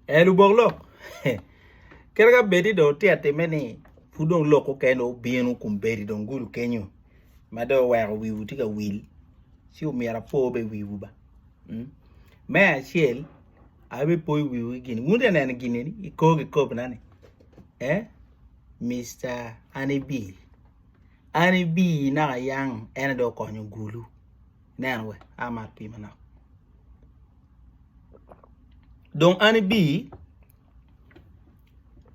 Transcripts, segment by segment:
Ee lubok lok kadi ka bed ni dong wutye ka timme ni pud dong lok mukene obino kun bedo dong gudo kenyo ma dong oweko wiwu tye ka wil ci omyero apo bene wiwu ba mm me acel abipoyo wiwu ki gin wun wutye ka neno gin eni i kor kikobina ni ee Mister Annie Bee, Annie Bee naka yang en aye dong okonyo gulu. Nen we a ma atii manok. Dong an ibi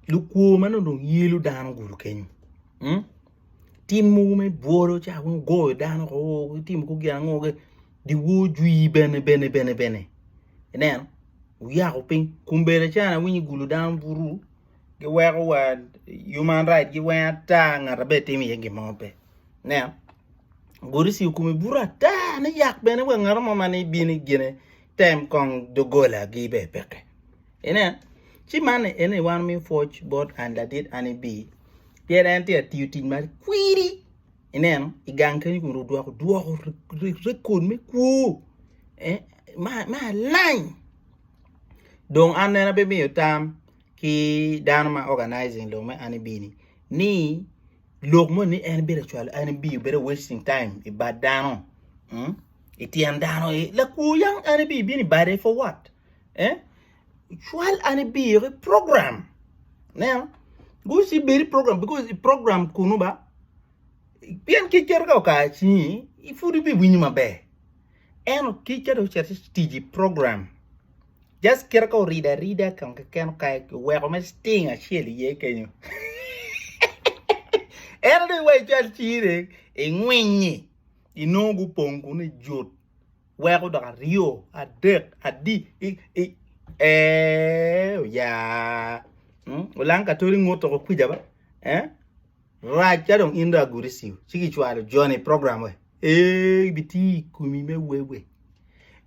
lukwo ma nongo dong yelo dano gudo kenyo mm tim mogo me bwolo ca weng ogoyo dano oo oo gitimo kor gin ango kek dyewor jwi bene bene bene bene ineno oyako piny kombedda ca an awinyo igudo dano buru giweko wa human right gi weng ata ngat abe timo iye gin mo pe nen gudi ci okumi buto ata ni yak bene wa ngat mo mani bini gine tem kong dogola gi be peke inen ci man ene wan mi pwoc bot an ladit an ibi pien en tye atiyo tic ma kwiri ineno igang keny kun odwoko dwoko rekod me kwo ma alany dong an en abimiyo tam ki dano ma organizing lok me an ibini ni lok moni ni en bedo cwalo an ibini bedo wasting time i bad dano mm? i tyen dano i lakwo yang an ibini bino i bade for what eh? cwal an ibini ki program neno guci bedi program because i program kunu ba pien kiketo ka okar cinyi ipud ibiwinyo maber En otic ka dong ocito ci tic i program just kite ka orido arida kong keken okayo oweko mere sting acel iye kenyo en dong iwaco cal cine ingwinyi inongo gupong kunu ijut weko dok aryo adek adi i, i ee oya hmm? olang katoli ngut toko kwija ba eh? Rac ka dong in dong agudi ciu ci kicwalo joni i program we ee ibiti i kumi me wewe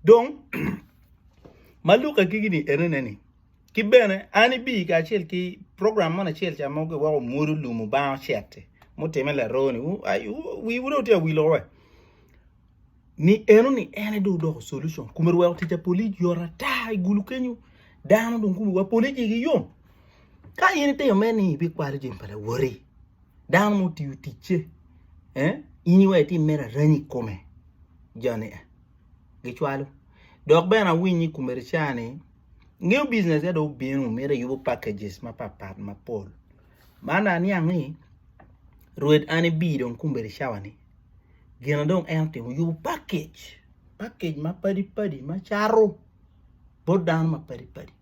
dong ma luka kiki ni enene ni ki bene an ibi kacel ki program mon acel ca mogo iwoko mwodo lum obang ocet mutime laroni wi wudo tye awilo we ni eno ni ene do odoko solution kume weko tic apolic yot ata i gulu kenyo dano dong kume wa polic igi yom ka in itimo me ni ibikwalo jami pa lawoti dano ma otiyo ticce eh, in iwe itim mere arany i kome jani eh, gicwalo dok bene awiny i kume rica ni ngeyo biznes ya do obino mito yubo packages mapatpat mapol man aniang ni rwed an ibi dong kume ricawa ni gina dong en otimo oyubo pakej pakej ma padi padi ma cato bot dano ma padi padi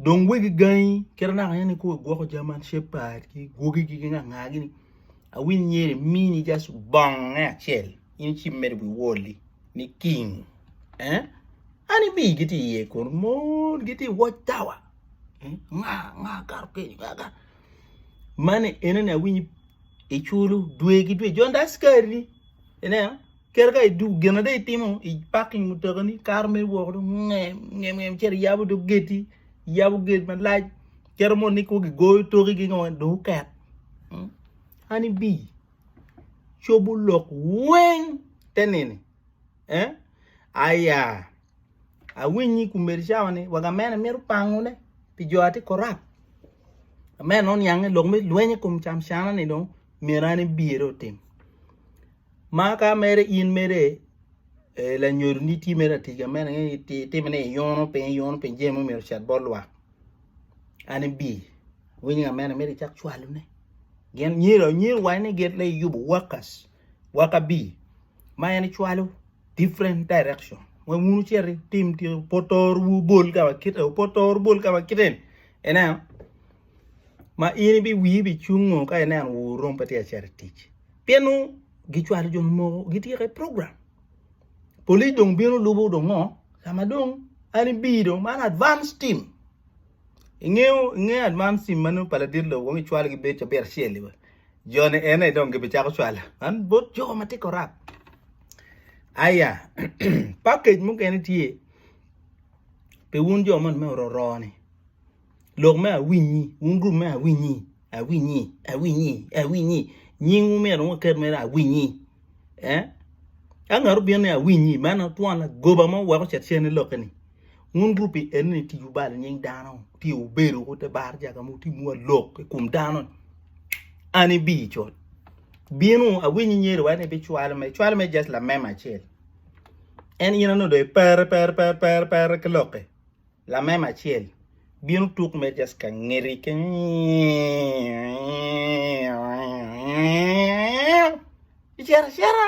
dong wegi gangi kit anaka en kong igwoko German shepherd ki gwogi gi ngat nga gini awiny myero imini just bonge acel in ci medo wi wall-li ni king eh an ibi giti iye kunu mon giti i watch tower nga nga kato keni nga kato Mani enene awinyo iculo dwe ki dwe jon da askari ineno kere ka idu gin ada itimo i parking mutekani kato mere woko dong ngem ngem ngem cito iyabo dong geti iyabo gate malac cito mono ni kwo gigoyo toki gi ngo dong oket mm. an ibi cobo lok weng te nini eh aya awiny ni kumeri cawa ni waga mene mito pango ne pi jo ati korap amene non yange lok me lwenye kum cam cana ni dong mira ni biyere otim ma ka mere in mere eh, la nyodo ni ti mere atiga mene itime ni iyono piny iyono piny jemo miro chat bol lwak ani bi winyo amene mire cak cwalo ne gen nyiro nyiro wai ni get le yubo workers Waka B, ma en cwalo different direction. Wek wun wucit itim tic opotor wu bol ka wa kite, opotor bol ka wa kite ni. Ineno? Ma in ibi wii ibi cungo ka ineno wu rom pe tye acito itic. Pien nu gicwalo jo moko gityeko i program. Police dong bino lubo dong ngo? Kama dong an ibi dong man advance team. Ingeyo ingeyo advance team manu pa ladit lo wong icwalo gibed cabit acel iwe. Jo ni ene dong gibi cako cwalo man bot jo ma tye korap. Aya, package mukene tye pi wun jo man me ororo ni. Lok me awinyi, wun group me awinyi, awinyi, awinyi, awinyi. Nying wu myero waket mere awinyi. Eh? Ka ngat obino ni awinyi, man twon lagoba mo weko cet cene lokke ni. Wun gu pi eno ni tic wubalo nying dano ti wubedo ku te bar jaka mu ti muwa lok i kum dano an ibi i cot binu awinyi nyeri wa ni bi cwalo me cwalo me just la mema acel en ina no do per per per per per ki loke la mema acel binu tuk me just ka ngeri ke icera cera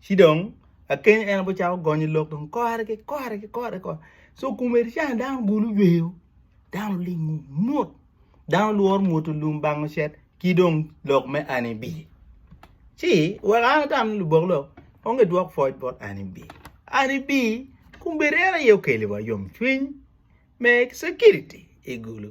ci dong akeny en aye ocako gonyo lok dong kore ki kore ki kore ki kore so komedi ca dano ogulu oyweyo dano olingo mot dano lworo mwuto lum bango cet ki dong lok me An I bii ci wek an atam ni lubok lok onge dwok pwoc bot An I bii, An I bii komedi en aye okelo wa yomcwiny me cekiriti I gulu.